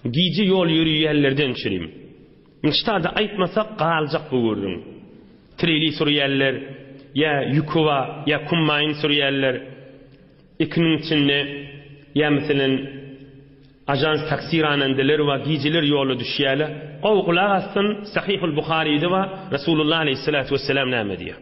Gije ýol ýöreýänlerden çürim. Nştada aýtmasak galjak bu gürrüň. Treli sürýänler, ýa ýükowa, ýa kummaýyn sürýänler, ikiniň içinde, ýa meselem ajans taksi ranandeler bar, gijeler ýola düşýärler. Gowy gulak assyn, Sahyhul Buharyda bar, Resulullah Aleyhissalatu Wessalam näme diýýär?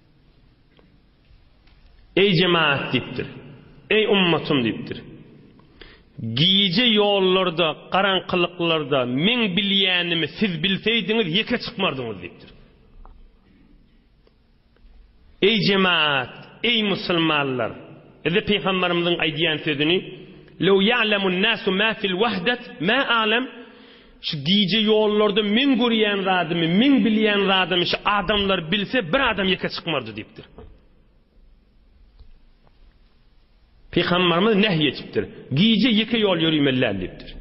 Eý jemagat diýipdir. Eý ummatym diýipdir. Gije ýollarda, garaňkylyklarda meň bilýänimi siz bilseýdiňiz ýeke çykmardyňyz diýipdir. Eý jemagat, eý musulmanlar, bize pygamberimiziň aýdýan sözüni, Lew ýa'lemun nasu ma fil wahdat ma a'lem Şu gije ýollarda meň görýän zadymy, meň bilýän zadymy şu adamlar bilse, bir adam ýeke çykmardy diýipdir. Pygamberimiz nähý etipdir. Gije ýeke ýol ýörimelläl diýipdir.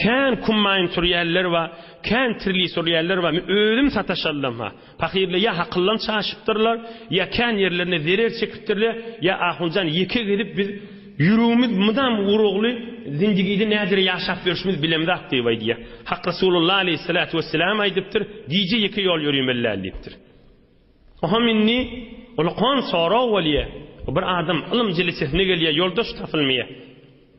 Kän kummaýyn sürýänler we kän tirli sürýänler we özüm sataşallam ha. Pahyrlar ýa hakyldan çaşypdyrlar, ýa kän ýerlerine zerer çekipdirler, ýa ahunjan ýeke gezip biz ýüregimiz mydam urugly zindigide näzire ýaşap ýörşümiz bilemzok diýip aýdýar. Hak Resulullah aleýhissalatu wesselam aýdypdyr, Gije ýeke ýol ýörimelläl diýipdir. Oňam indi ulkan sorag bolýar. Bir adam ylym jelesesine gelýär, ýoldaş tapylmaýar.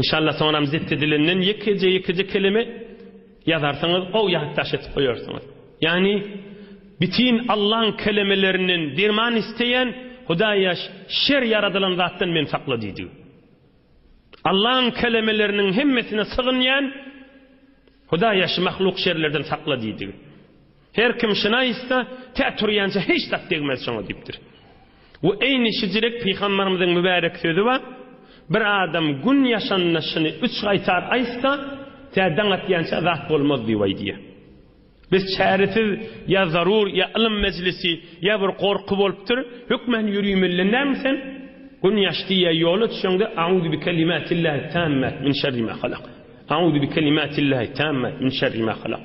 Inşallah soňram zipti dilinden ýekeje ýekeje kelime ýazarsyňyz ow ýatdaş etip goýarsyňyz. Ýagny bitin Allaň kelemelerinden derman isteýän Hudaý ýaş şer ýaradylan zatdan men sakla diýdi. Allaň kelemeleriniň hemmesine sygynýan Hudaý ýaş mahluk şerlerden sakla diýdi. Her kim şina ýytsa, tä turýança hiç zat degmez şoňa diýipdir. We eýni şijilik pygambarymyzyň mübärek sözi bar, Bir adam gün ýaşanda şyny üç gaýtar aýtsa, tä daň atýança zat bolmaz diýip aýdýar. Biz çäresiz ýa zarur ýa ylym mejlisi ýa bir gorky bolupdyr, hökman ýürimelden dälmi sen? Gün ýaşdy ýa ýola düşeňde Auzu bi kelimatillahi tammat min şerri ma halak. Auzu bi kelimatillahi tammat min şerri ma halak.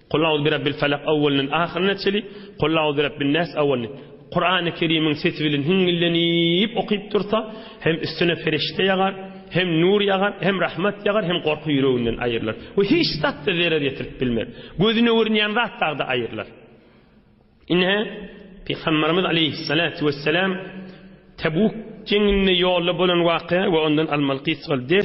Kul auzu bi rabbil felak awwalynyň ahyryna çeli, Kul auzu bi rabbin nas awwalyny Kurany Kerimiň sesi bilen hiňňillenip okyp dursa, hem üstüne perişde ýagar, hem nur ýagar, hem rahmat ýagar, hem gorky ýüreginden aýrylar. We hiç zat-da zerer ýetirip bilmez. Gözüne görünýän zat dagda aýrylar. Ine, Pygamberimiz aleýhissalatu wessalam Tebuk jeňinde ýolda bolan wakya we ondan almaly gysgal ders